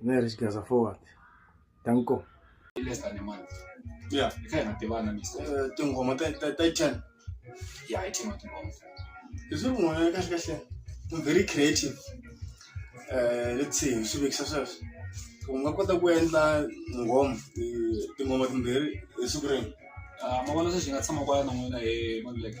Very guys forward. Thank you. less than a month Yeah. i kha hi nga tivana misa Eh, tinghoma ta ta ta ten ya hi thema tingoma hi swi n'wana kahle kahle I'm very creative Eh, let's see hi swi vekisa sweswo u nga kota ku endla nghoma eh, tinghoma timbirhi hi siku rin'we Ah, ma vona sweswi hi nga tshama kwala na n'wina hi maluleke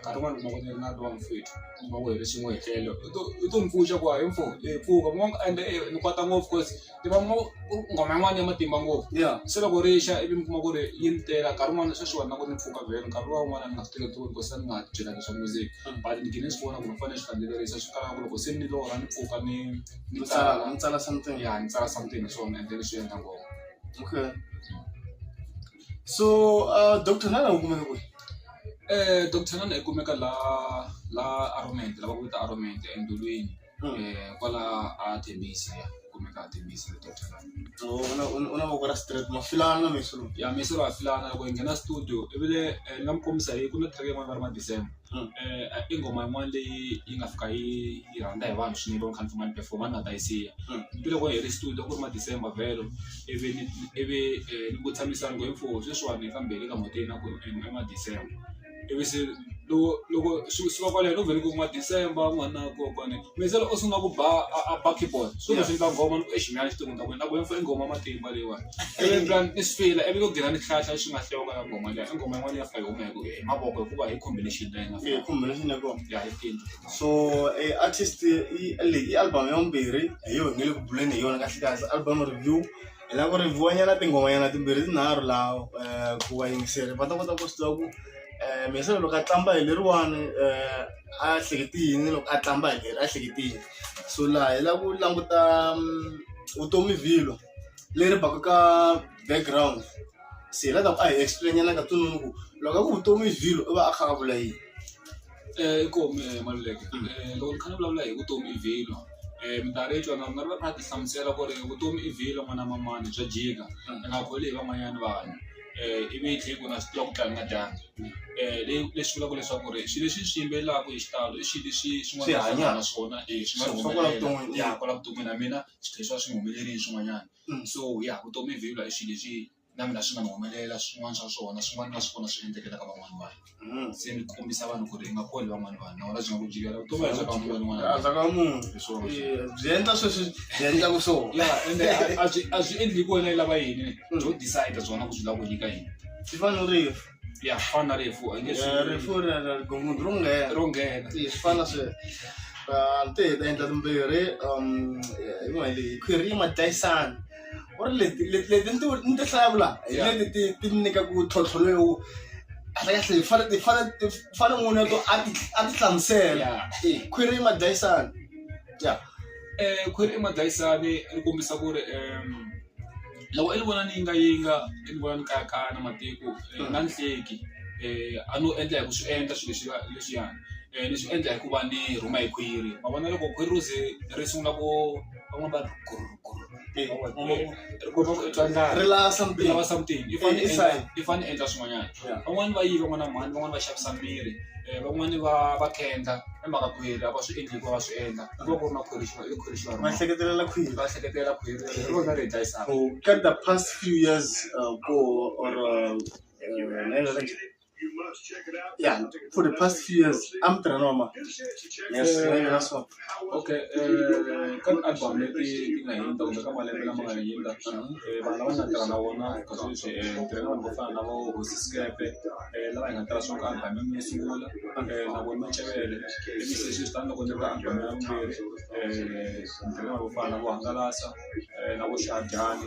nkarhi wun'wani u kuma ku ni ri na lowa mfwethu u kuma ku hi ri swin'we hi tlele u to u to ni pfuxa ku hayi mfo hi pfuka mi vona ende ni kwata ngopfu coz ni va mu nghoma yin'wani ya matimba ngopfu se loko ri xa ivi mi kuma ku ri yi ni tela nkarhi wun'wani swa swi wona na ku ni pfuka vhele nkarhi luwa wun'wani a ni nga swi tekeli ku se ni nga byela leswa music but ni gine ni swi vona ku ni fane ni swi landzelerisa swi fana na ku loko se ni lorha ni pfuka ni ni tsala ni tsala something ya ni tsala something hi swona ende ni swi endla ngopfu okay. so uh doctor xana u kumeka kwihi? Doctor xana i kumeka la la Aroment la va ku i ta Aroment endhawini kwala a Tembisa ya i kumeka a Tembisa doctor xana u na u na voko ra straight ma filana mixo lowu ya mixo lowu wa filana loko hi nghena studio i vi le ni nga mi kombisa hi ku na track yin'wana va ri ma December. i nghoma yin'wana leyi yi nga fika yi yi rhandza hi vanhu swinene loko ni kha ni famba ni perform-a ni nga ta yi siya ni loko hi ri studio a ku ri ma December vhelo ivi ni ivi ni ku tshamisani ku he mfo sweswiwani hi fambele ka mhoteni a ku ri i ma December ivi se loko loko swi suka kwaleno ni ku ma December n'wananga kokwani. Mixele u sungula ku ba a a ba keyboard swi ku swi endla nghoma ni ku exi mehe a ni swi tivi ku ni ta ku yini ni ta ku yini four i nghoma ya matimba leyiwani ivi ni twa ni swi fila ivi ku gina ni hlahla leswi nga hleweka ya nghoma liya i nghoma yin'wana leyi nga fika yi huma hi ku hi mavoko hikuva hi combination leyi nga fika combination ya kona ya hi tini so e artist i leyi i album ya vumbirhi hi yo hi nge le ku buleni hi yona kahle kahle album review hi lava ku review nyana tinghomanyana timbirhi tinharhu laha um ku vayingiseri va ta kota ku swi tiva ku um mixele loko a qambha hi leriwani um a hleketi yini loko a tlamba hi leri a hleketi yini so laha hi la ku languta vutomi vhilwa leri baka ka background se hi la ta ku a hi explain nyana ka tsongo ku loko a ku vutomi vhilwa u va a kha a vula yini inkomu maluleke loko ni kha ni vulavula hi vutomi i vhilwa um minkarhi yo twana nga ri va kha ti hlamusela ku ri vutomi i vhilwa n'wana mamani bya jika i nga kholi hi van'wanyana vanhu i vi tlhela ku na swi tiva ku tlanga dyambu leswi vulaka leswaku ri swilo leswi swi yimbelelaka hi xitalo i swilo leswi swin'wana naswona i swi nga humelela ya kwala vuton'wini na mina swi tlhela swi va swi nga humeleli hi swin'wanyana so ya vutomi byi vula hi swilo leswi na mina swi nga ni humelela swin'wana swa swona swin'wana na swona swi endlekela ka van'wana vanhu. se ni kombisa vanhu ku ri i nga koli van'wana vanhu na wena byi nga ku jikela vutomi bya ka munhu wun'wana a bya ka munhu Hi swona sweswo. Eh, byi endla sweswi byi endlaka swona ya ende a- a byi- a byi endli hi ku wena i lava yini byo decide byona ku byi lava ku nyika yini swi fana no rifu ya fana na rifu a nge swi- rifu ra ra rigongo ro nghena ro nghena Eh, swi fana sweswo Ah, ni te hi ta endla timbirhi um, eh, yin'wana hi leyi khwiri yi ma dlayisana u ri leti leti leti ni ti ni ti hlawula hi Yeah. leti ti ti mi nyikaku tlhontlho lowu kahlekahle hi fane hi fane hi fane n'wini wa to a ti a ti hlamusela Eh, khwiri madlayisana ya eh, khwiri i madlayisani ri kombisa ku ri em, loko i ni vona ni yingayinga i ni vona ni kayakaya na matiko eh, Mm. na ni hleki eh, a no endla hi ku swi endla swilo leswi leswiyani Eh, ni swi endla hikuva ni rhuma hi khwiri ma vona loko khwiri ro ze ri sungula ku van'we va ri guru guru Eh, Van'we va- eh, eh, ri kota ku twa ndlala ri lava something lava something i fane Eh, i endla sign. i fane endla swin'wanyana Yeah. van'wani va yiva n'wana mhani van'wani va xavisa miri eh, van'wani va va kendla i mhaka khwiri a va swi endli hikuva va swi endla ku va ku ri na khwiri xi va i khwiri xi va ma rima hleketelela khwiri va hleketela khwiri ri rona ri hi dlayisaka Ka the past few years uh, ko or uh, uh, Yeah, for the past few years, I'm Tranoma. Yes, yeah, that's one. Okay, eh, ka album leti ti nga hundza kumbe ka malembe lama nga hundza eh, vanhu lava nga tirha na vona ka sweswi eh, ni tirha na vanhu vo fana na vo hosi skepe eh, lava hi nga tirha swona ka album ya mina yo sungula eh, na vona macevele ivi se sweswi tani loko ni ri ka album ya vumbirhi eh, ni tirha na vanhu vo fana na vo hangalasa eh, na vo xadyani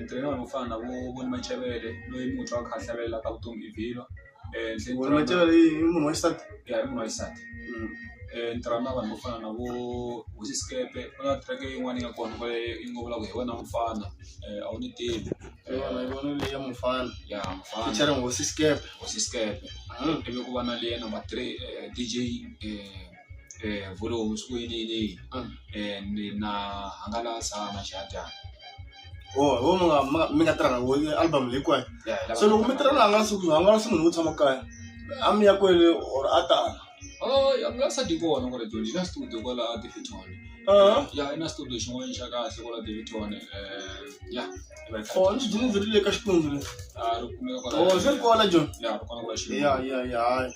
ntirho wa yena wo fana na vo Voni Machevele loyi mutshwa a kha a hlavelela ka vutomi i vhilwa Voni Machevele i munhu wa xisati ya i munhu wa xisati ni tirha na vanhu vo fana na vo Hosi Sikepe ku na track yin'wana ya kona kwale yi ngo vulavula hi wena mufana a wu ni tivi hi yona hi yona leyi ya mufana ya mufana feature Hosi Sikepe Hosi Sikepe ivi ku va na leyi ya number three D_J. eh, vhule homu siku yeleyeleyi Ah. eh, ni na hangalasa maxadyana wo wo mi nga mi nga- mi nga tirha na wo album leyi kwayo Ya, hi lava- so loko mi tirha na hangalasi ku hangalasi munhu wo tshama kaya a mi ya kwele or a tala Oh, ya nga sa di kona kwala dyondzo yi na studio kwala Davidton Ah. ya yi na studio xin'wana xa kahle kwala Davidton eh, ya or ni dyini byi ri le ka xikwembu le Ah, ri kumeka kwala- or swi ri kona joni ya ri kona kwala Xilungu. ya ya ya hayi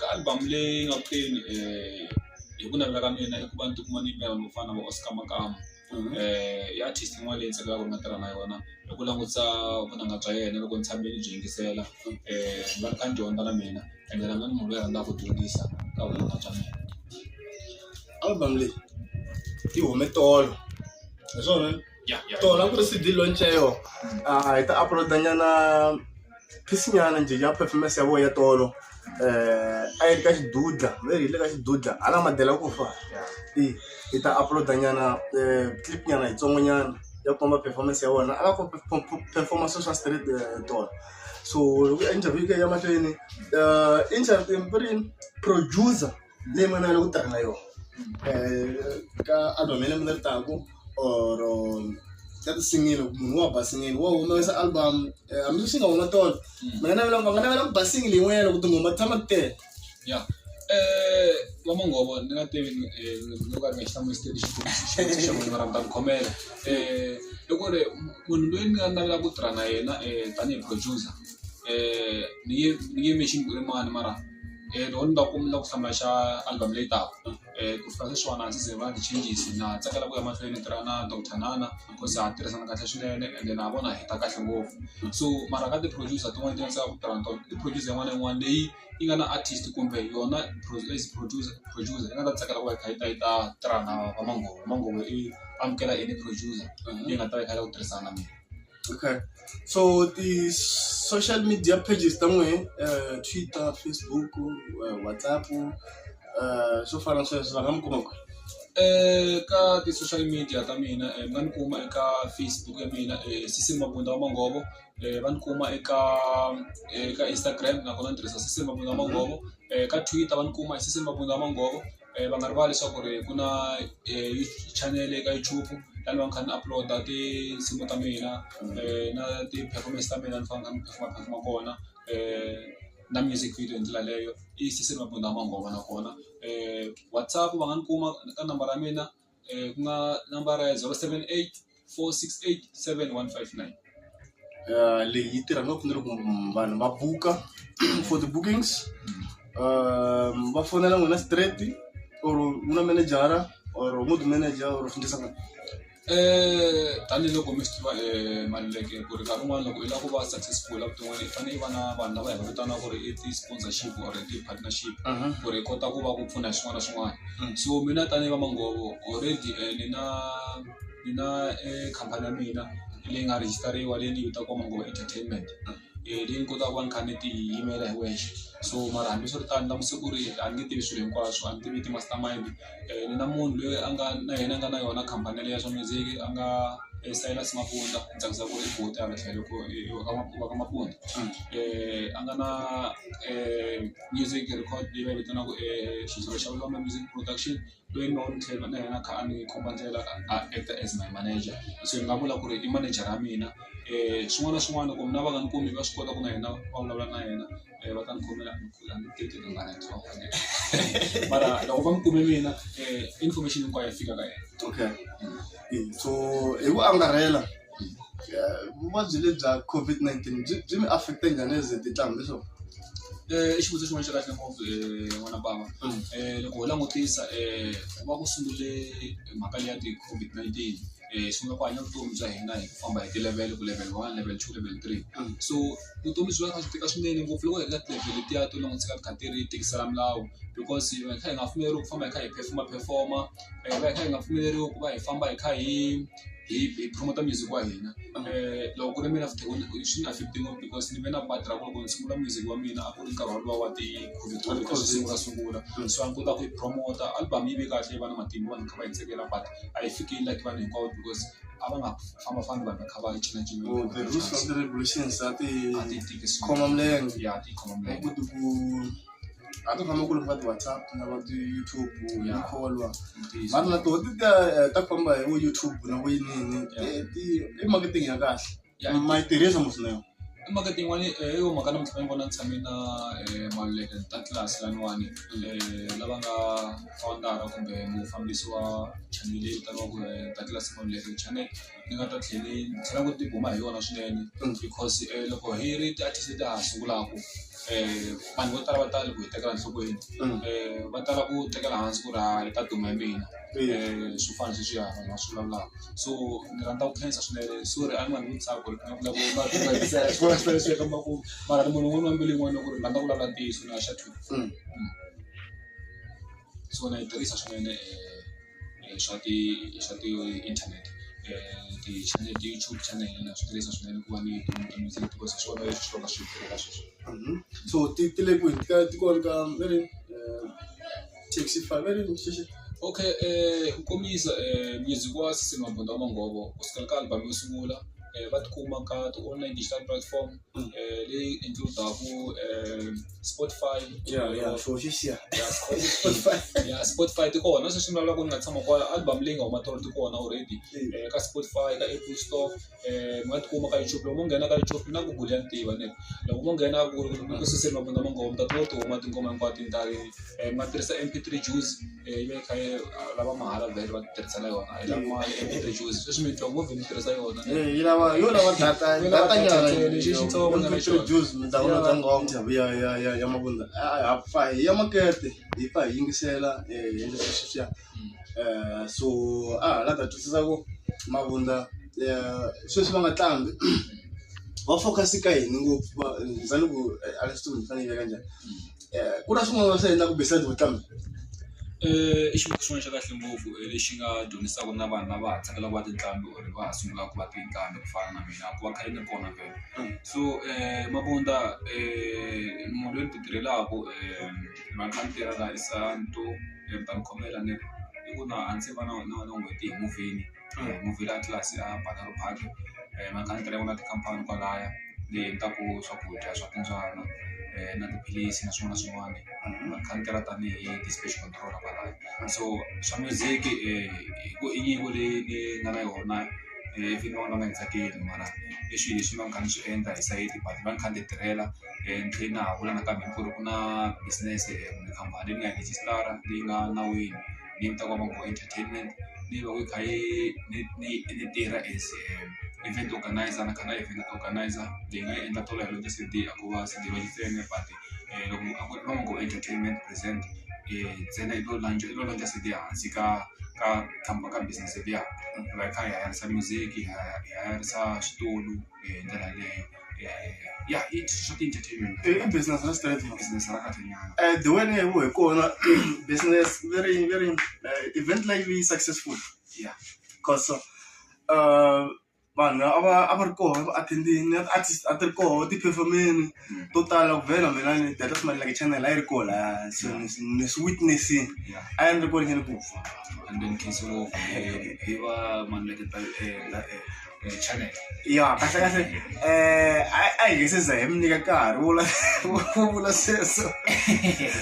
ka album leyi nga ku teni hi ku navela ka mina i ku va ni tikuma ni yimbelela no fana na vo Oscar Makamu i artist yin'wana leyi ndzi tsakelaka ku tirha na yona hi ku langutisa vunanga bya yena loko ndzi tshame ni byi yingisela ni va ni kha ni dyondza na mina ende na mina ni munhu loyi a rhandzaka ku dyondzisa ka vunanga bya mina album leyi yi hume tolo hi swona. tona ku ri cd launch ya yona a hi ta uploada nyana piece nyana njhe ya performance ya vona ya tolo um a yi ri ka xidudla veri hi le ka xidudla hala madela ku fa i hi ta uploada nyana um clip nyana yitsongo nyana ya komba performance ya vona a va performance swa street tona so loko interview yi ya mahlweni interview producer leyi mana ya loko u tirhela yona ka album ya lembe leri taka or ka tinsimu munhu wa basile wo humesa album hambi swi nga huma tolo va nga navela va nga navela ku basile yin'wana loko tinghoma ti tshama ti tele ya eh va mangovo ni nga tivi ni nga ka ni nga xi hlamuseli xikombiso xa munhu va rhandza ku khomela eh i ku ri munhu loyi ni nga navelaka ku tirha na yena tanihi producer ni nge ni nge mention ku i mani mara. Loko ni va ku ni lava ku hlaya xa album leyi taka ku fana na sweswiwani a ndzi ze va ndzi changes na tsakela ku ya mahlweni ni tirha na doctor nana because ha tirhisana kahle swinene ende na vona hi ta kahle ngopfu so mara ka ti-producer tin'wani ti tsaka ku tirha na tona i producer yin'wana na yin'wana leyi yi nga na artist kumbe yona as producer producer yi nga ta tsakela ku va yi kha yi ta yi ta tirha na va manghoza manghoza i amukela any producer leyi nga ta yi kha yi lava ku tirhisana na mina. Okay so ti-social media pages ta n'wehe Twitter, Facebook, WhatsApp swo fana na sweswo va nga mi kuma kwihi? Ka ti-social media ta mina mi nga ni kuma eka Facebook ya mina Sisi Mabunda wa Manghovo va ni kuma eka eka Instagram nakona ni tirhisa Sisi Mabunda wa Manghovo ka Twitter va ni kuma hi Sisi Mabunda wa Manghovo. va nga rivali leswaku ri ku na channel eka YouTube la ni va ni kha ni upload tinsimu ta mina na ti-performance ta mina ni fanele ni kha ni perform-a perform-a kona na music video hi ndlela yaleyo i Sisani Mabunda Mangoma nakona WhatsApp va nga ni kuma ka nambara ya mina. um ku nga nambara ya zero seven eight four six eight seven one five nine Eh, leyi yi tirha ngopfu ni loko vanhu va buka for the bookings um, va fonela n'wina straight or u na manejara or u ngo ti manager or u fundisa n'wina Eh, tanihiloko mi swi tiva um maluleke ku ri nkarhi wun'wana loko i lava ku va successful evuton'wini i fanele i va na vanhu lava hi va vitanaka ku ri i ti-sponsorship or i ti-partnership ku ri i kota ku va ku pfuna hi swin'wana na swin'wana so mina tanihi va manghhovo already ni na ni na khampani ya mina leyi nga rejistariwa leyi ni yi vitanaka Manghova Entertainment leyi ni kotaka ku va ni kha ni ti yimela hi wexe so mara hambiswiritano na masiku ri a ni nge tivi swilo hinkwaswo a ni tivi ti-master mind ni na munhu loyi a nga na yena a nga na yona khampani yaleyo ya swa music a nga Silas Mabunda ni tsakisa ku ri i buti hala tlhelo ku i wa ka Mabunda a nga na . music record leyi va yi vitanaka Xidzivha Xa Vulombe Music Production loyi ni nga n'wi train-a na yena a kha a ni komba ndlela a act-a as my manager se ni nga vula ku ri i manager-a ya mina swin'wana na swin'wana loko mina va nga ni kumi va swi kota ku na yena va vulavula na yena va ta ni khomela mara loko va ni kume mina information hinkwayo yi fika ka yena okay so hi ku angarhela. vuvabyi lebyi bya COVID-19 byi byi mi affect-e njhani as a tinhlambi so i xivutiso xin'wana xa kahle ngopfu n'wana bava loko ho langutisa ku va ku sungule mhaka leyi ya ti-COVID-19 hi sungula ku hanya vutomi bya hina hi ku famba hi ti-level ku level one level two level three so vutomi byi va byi kha byi tika swinene ngopfu loko hi ri ka ti-level letiya to langutisa ka ti kha ti ri tikisela milawu because hi va hi kha hi nga pfumeleriwi ku famba hi kha hi phefoma phefoma hi va hi kha hi nga pfumeleriwi ku va hi famba hi kha hi. hi hi promote music wa hina loko ku ri mina swi ni affect ngopfu because ni ve na part ra ku loko ni sungula music wa mina a ku ri nkarhi wolowo wa ti covid twenty ku sungula sungula so a ni kota ku yi promote album yi ve kahle yi va na matimba vanhu kha va yi tsakela but a yi fikeli like vanhu hinkwavo because a va nga fambafambi vanhu va kha va yi cinacina Oh, the rules of the regulations ati ati tiki khoma milenge ya ti khoma milenge ku ti ku hata kama ku ri va ti-whatsapp na va ti-youtube ni Yeah. kholwa Ntiyiso. vanhu na toho ti ta eh, ta famba hi vo youtube na vo yinini Yeah. Eh, ti- i marketing ya kahle Yeah. ma yi tirhisa muswinene i mhaka tin'wani eh, yo mhaka namuntlha ni vona ni tshame na eh, maluleke ta tlilasi laniwani eh, lava nga founder kumbe mufambisi wa chanele leyi vitaniwaku eh, ta tlilasi maluleke channel ni nga ta tlhela ni ni tlhela ni tibuma hi yona swinene because loko hi ri ti-artist ta ha sungulaka vanhu vo tala va tala ku hi tekela enhlokweni va tala ku tekela hansi ku ri ha hi ta duma hi mina swo fana na sweswiya vanhu va swi vulavulaka so ni rhandza ku khensa swinene sorry a ni nga n'wi tsaki ku ri ni nga vulavula ku ri mara ni munhu un'wana na mbilu yin'wana ya ku ri ni rhandza ku vulavula ntiyiso na . swona yi tirhisa swinene swa ti swa ti inthanete ti-channel YouTube channel na swi tirhisa swinene ku va ni because hi swona leswi swi va ka swi kha swi tirha sweswi so ti ti le kwihi ti ka ti kona ka va ri taxi five va ri xexo okay ku kombisa music wa Sisi Mabunda wa Mongovo kusukela ka album yo sungula va tikuma ka ti-online digital platform. eh, leyi includaku eh, spotify ya ya swo swi xiya ya Spotify. ya spotify ti kona sweswi mi lavaka ku ni nga tshama kwala album leyi nga huma tolo ti kona already eh, ka spotify ka apple store eh, mi nga tikuma ka youtube loko mo nghena ka youtube na google ya ni tiva ne loko mo nghena ku ku suseli mabunda mangoma mi ta kuma ti huma tinghoma hinkwato hi nkarhi eh, mi nga tirhisa mp3 juice ivi kha lava mahala vhele va tirhisela yona yi lava mali and yi reduce sweswi mi twa ngopfu mi tirhisa yona yi lava yo lava data data nyana lexi xitsongo na lexi reduce mi ta vona ngoma ya ya ya ya mavunza ha fa hi ya makete hi fa hi yingisela hi endla sweswi swiya so a ha la ta twisisa ku mavunza sweswi va nga tlambi va focus ka yini ngopfu va za ni ku a swi tivi ni fanele yi veka njhani. eh, ku na swin'wana swi endlaku besides vutlanga eh, i xivuku xin'wana xa kahle ngopfu eh, lexi nga dyondzisaka na vanhu lava ha tsakela ku va tinqambi or va ha sungula ku va tinqambi ku fana na mina ku va khale ni kona vele mm. so um mabunda um munhu loyi ni ti tirhelaka um vanhu va ni tirhela hi santo um ta ni khomela ni ri i ku na a ndzi va na na na n'hweti hi muvheni movie leyi a tlula se a baka ribadi makanakana ya vona tikhampani kwalaya leyi endlaku swakudya swa timbyana na tiphilisi na swin'wana na swin'wana va kha ni tirha tanihi ti-speech control kwalaya so swa music hi ku i nyiko leyi ni nga na yona ivi ni vona ni nga tsakeli mara i swilo leswi ni va ni kha ni swi endla hi sayiti but ni va ni kha ni ti tirhela ni tlhe na ha vula nakambe ku ri ku na business kumbe khampani leyi ni nga yi rejistara leyi nga nawini. ni yi twa va ku entertainment ni yi vona yi kha yi ni ni yi tirha as event organiser ni kha ni event organiser ni nga yi endla tolo yaleyo ti-C_D a ko va C_D va yi tseme but loko a ku ri no ku entertainment present ntsena yi to launch yi to launch C_D ehansi ka ka ka business liya hi va hi kha hi hayarise music hi hayarisa switulu hi ndlela yaleyo. ya ya ya ya i swa ti-entertainment i i business ra straight man business ra kahlanyana Eh, the way leyi hi kona business very very eh, event leyi yi successful ya cause uh, vanhu a va a va ri koho va attendini artist a ti ri koho ti performeni Mm. to tala ku vhela mina ni data smile like channel a yi ri koho la so ni swi- ni swi witnessini ya a yi ri kona ni ku fa and then khensi ngopfu hi va mani like eh, eh, ya kahle kahle um a a hi nge se za hi mi nyika nkarhi wo la wo vula sweswo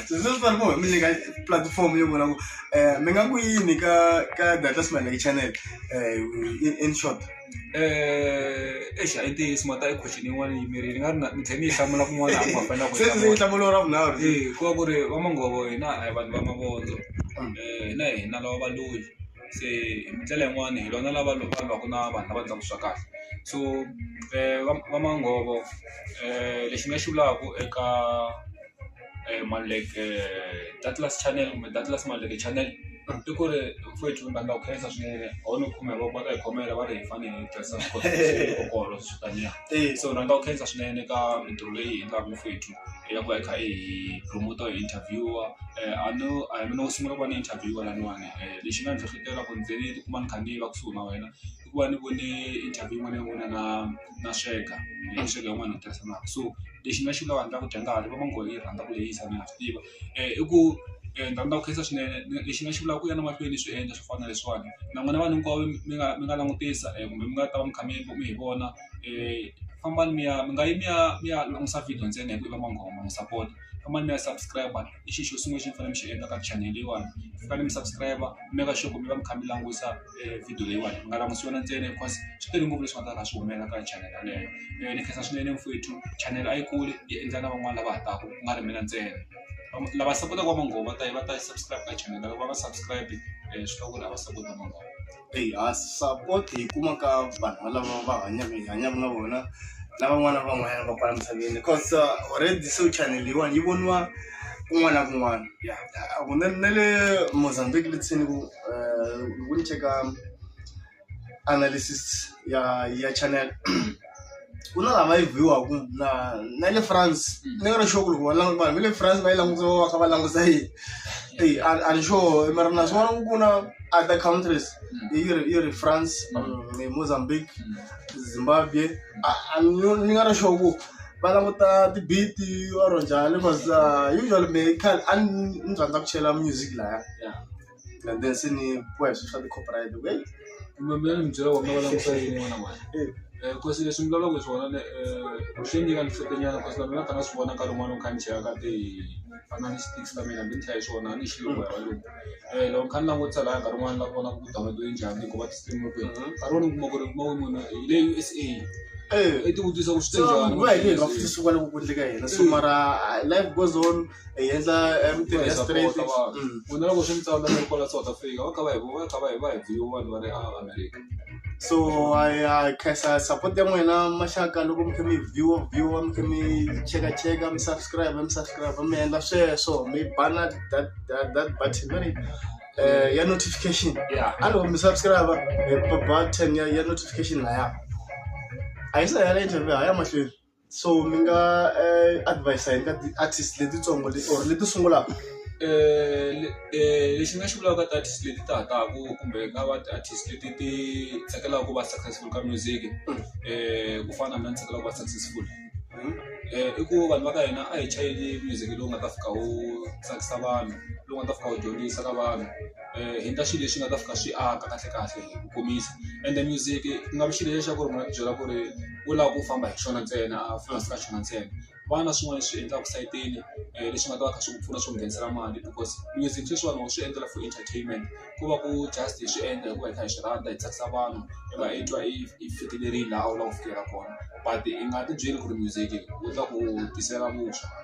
so sweswi fane ku hi mi nyika platform yo vula ku um mi nga ku yini ka ka data smalek channel um in short Eh, eish a yi ntiyiso mhaka i question yin'wana yi mirini nga ri na ni tlhe ni yi hlamula kun'wana a ku hambana ku sweswi yi nhlamulo ra vunharhu Eh, ku va ku ri va mangovo hina a hi vanhu va mavondzo um hina hina lava valoyi se hi ndlela yin'wani hi vona lava loko vanhu va ku na vanhu lava endlaka swa kahle so va va manghhovo lexi ni nga xi vulaka eka Maluleke Douglas channel kumbe Douglas Maluleke channel i ku ri vafowethu vanhu va khensa swinene a wu ni khume hi voko va ta hi khomela va ri hi fane hi tirhisa swikotlokoholo swo taniya so rhandza ku khensa swinene ka mintirho leyi hi yi endlaka vafowethu. ya ku ya kha i promoter hi interviewer a no a hi mina wo sungula ku va ni interviewer laniwani lexi nga ni hlohlotela ku ni ze ni ti kuma ni kha ni va kusuhi na wena i ku va ni vone interview yin'wana ya n'wina na na sweka sweka yin'wana ni tirhisanaka so lexi ni nga xi vulaka ni lava ku dya nkarhi va ngo va yi rhandza ku lehisa na ha swi tiva i ku ni rhandza ku khensa swinene lexi ni nga xi vulaka ku ya na mahlweni ni swi endla swo fana na leswiwani na n'wina vanhu hinkwavo mi nga mi nga langutisa kumbe mi nga ta va mi kha mi mi hi vona. eh, fambani mi ya mi nga yi mi ya mi ya langusa video ntsena hi ku i va manghoma n'wi support fambani mi ya subscribe i xi xo sungula xi mi fanele mi xi endla ka channel leyiwani mi fanele mi subscribe mi meka sure ku mi va mi kha mi langusa eh, video leyiwani mi nga langusi yona ntsena because swi tele ngopfu leswi nga ta ka swi humelela ka channel yaleyo Eh, ni khensa swinene mfowethu channel a yi kuli yi endla na van'wana lava ha taka ku nga ri mina ntsena Vam- lava sapotaka va manghoma va ta yi va ta yi subscribe ka channel lava va nga subscribe eh, swi hlawula lava sapota manghoma Eya support hi kuma ka vanhu lava va hanyaka hi hanyaka na vona na van'wana na van'wanyana va kwala misaveni cos already se chanel leyiwani yi voniwa kun'wana na kun'wana ya kunene na le Mozambique le ndzeni ku loko ni cheka analysis ya ya chanel. ku na lava yi biwaku na na le france ni nga ri sure ku loko va languta vanhu va le france va yi languta va va kha va languta yini eyi a a ni sure mara na swona ku na other countries yi ri yi ri france um, mozambique zimbabwe a a ni ni nga ri sure ku va languta tibiti or njhani because uh, usually me khale a ni ni rhandza ku chela music laya Yeah. and then se ni boya swilo swa ti-copyright loko hey kumbe mi ni byela ku mi va langusa yini n'wana mali hey um kosi leswi mi vulavulaka hi swona ni um swi nyika ni hlekenyana kosi na mina ni kha na swi vona nkarhi wun'wana ni kha ni cheka ka ti fana ni sticks ta mina ni kha hi swona a ni xi loko hi valungu um loko ni kha ni langutisa lahaya nkarhi wun'wana la vona ku download yi njhani hikuva ti-stream ku ri nkarhi wun'wana ni kuma ku ri kuma ku munhu hi le u s a hey i tivutisa ku swi te so njhani va hi le hi nga pfuki swi vona ku ku endleka hina so mara ah, life goes on hi endla mintirho ya straight ku na loko swi mi tsandza mi ri kwala South Africa va kha va hi va kha va hi va hi view vanhu va ri a America so ya khensa support ya n'wina maxaka loko mi kha mi view view mi kha mi cheka cheka mi subscribe mi subscribe mi endla sweswo mi bana that that that button very eh ya notification yeah a loko mi subscribe button ya ya notification laya a yi sa ya le interview ha ya mahlweni so mi nga advise hi nga ti-artist letitsongo leti or leti sungulaka lexi ni nga xi vulaka ka ti-artist leti ta ha taka kumbe ka va ti-artist leti ti tsakelaka ku va successful ka music ku fana na ni tsakela ku va successful i ku vanhu va ka hina a hi chayeli music lowu nga ta fika wu tsakisa vanhu lowu nga ta fika wu dyondzisa ka vanhu. endla xilo lexi nga ta fika xi aka kahle kahle hi ku komisa ende music ku nga vi xilo lexa ku ri munhu a ti byela ku ri u lava ku famba hi xona ntsena a fana se ka xona ntsena va na swin'wana leswi endlaka sayitini leswi nga ta va kha swi ku pfuna swi ku nghenisela mali because music sweswiwani wa swi endlela for entertainment ku va ku just hi swi endla hikuva hi kha hi swi rhandza hi tsakisa vanhu i va i twa i i fikelerile laha u lava ku fikela kona but i nga ti byeli ku ri music wu ta ku tisela vuswa.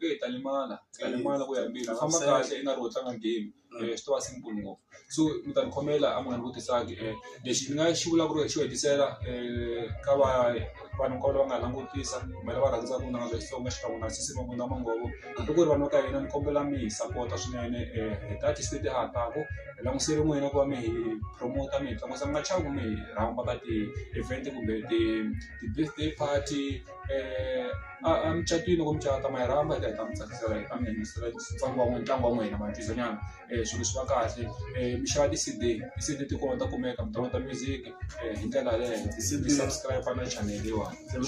eyi ta limala ta limala ku ya embirhi famba kahle i nga ri wo tlanga game swi to va simple ngopfu so mi ta ni khomela a mi nga ni vutisanga lexi ni nga xi vula ku ri xo hetisela ka va vanhu hinkwavo lava nga hi langutisa kumbe lava rhandzaka vunanga bya Xitsonga xikan'we na sesi Mabunda Manghovo hambi ku ri vanhu va ka hina ni kombela mi hi sapota swinene hi ta ti state ha taku hi langusele n'wina ku va mi hi promote mi hi tlangisa mi nga chavi ku mi hi rhamba ka ti-event kumbe ti ti-birthday party. Eh, emucatwini loko mi cata ma yi rhamba yi ta yi ta mi tsakisela yi ta mi yingisela ntlangu wa ntlangu wa n'wina ma twisinyana um swilo swi va kahle um mi xava ti-C_D ti-C_D ti kona ta kumeka mi download-a music um hi ndlela yaleyo mi subscribe-a na channel leyiwani um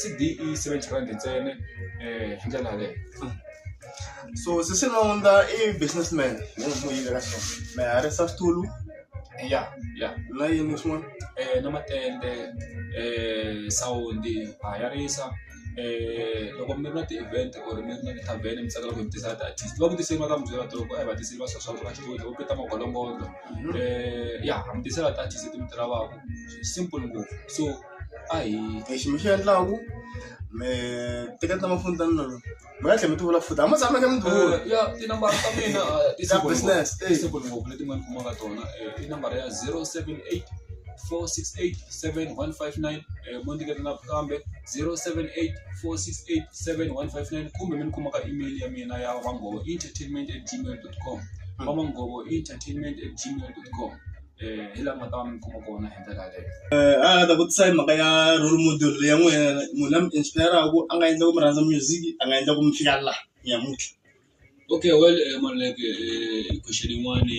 C_D i seventy rand ntsena um hi ndlela yaleyo so sisi nonda i business man hi n'wi yivela xona mi hayarisa switulu ya ya na yini swin'wana na matende sawundi ha ya risa loko mi ri na ti-event or mi ri na ti-tarven mi tsakela ku hi tisa ti-artist va ku tiseriwa ka mi byela ku a hi va tiseli va swa swa ku va xitulu vo peta magonongono ya ha mi tisela ti-artist leti mi ti lavaka swi simple ngopfu so a hi lexi mi xi endlaku mi teketa . mi nga tlhela mi ti vula futhi a mi tshameke mi ti vula ya tinambara ta mina ah, ti Ta simple business, ngopfu. eh. Ti simple ngopfu leti n'wani kumaka tona Eh, i nambara ya 078 468 7159 Eh, mo ndikete na kambe 078 468 7159 kumbe mi ni kuma ka email ya mina ya vangovo entertainment at gmail com vamangovo entertainment at gmail com hi laha mi nga ta va mi kuma kona hi ndlela yaleyo. A nga ta vutisa hi mhaka ya role model ya n'wehe munhu la mi inspire-raku a nga endla ku mi rhandza music a nga endla ku mi fika laha namuntlha. Okay well Maluleke question yin'wani.